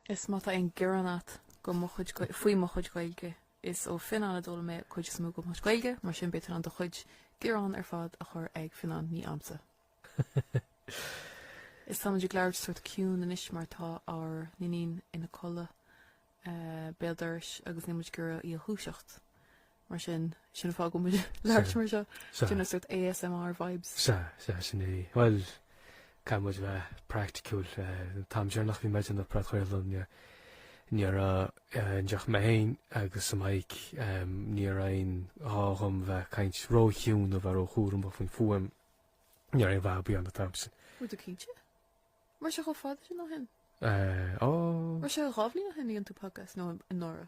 Is má tá aon gearán agat faoi mo chuid Gaeilge, faoi mo chuid Gaeilge, is ó Fionán a d'fhoghlaim mé cuid is mó de mo chuid Gaeilge, mar sin beidh tú in ann do chuid gearán ar fad a chur ag Fionán, ní agamsa. Is táimid ag labhairt sórt ciúin anois mar tá ár n-iníon ina codladh, béal dorais, agus níl muid ag iarraidh í a dhúiseacht. Mar sin, sin an fáth go bhfuil muid ag labhairt mar seo. Sin an sórt ASMR vibes. Sea, sea, sin é. Bhuel, caithfidh muid a bheith praiticiúil. An t-am seo nuair a bhí muid i mbun an phodchraolta ní raibh ann ach mé féin agus an mic, ní raibh aon ghá dhom bheith caint ró-chiúin nó bheith ró-chúramach faoin bhfuaim. Ní raibh aon fhadhb ann an t-am sin. Bhfuil tú cinnte? Mar tá sé chomh fada sin ó shin? Ó. Mar tá sé dhá bhliain ó shin a rinne tú podcast, nó anuraidh?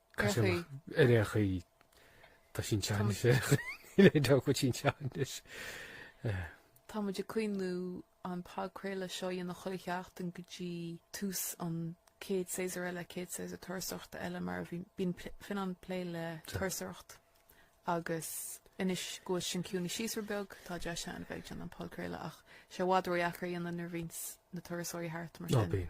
Caiseal ar é chuí Tá sin, tá sé, tá, tá sin, tá anois. Tá muid ag cuimhniú an podchraoladh seo dhéanamh chuile sheachtain go dtí tús an chéad séasúr eile, chéad séasúr turasóireachta eile mar bíonn Fionán ag plé le turasóireacht agus anois go bhfuil sin ciúinithe síos rud beag tá deis ann bheith ag déanamh an podchraoladh ach tá sé i bhfad ródheacair é a dhéanamh nuair bhíonns na turasóirí thart mar sin.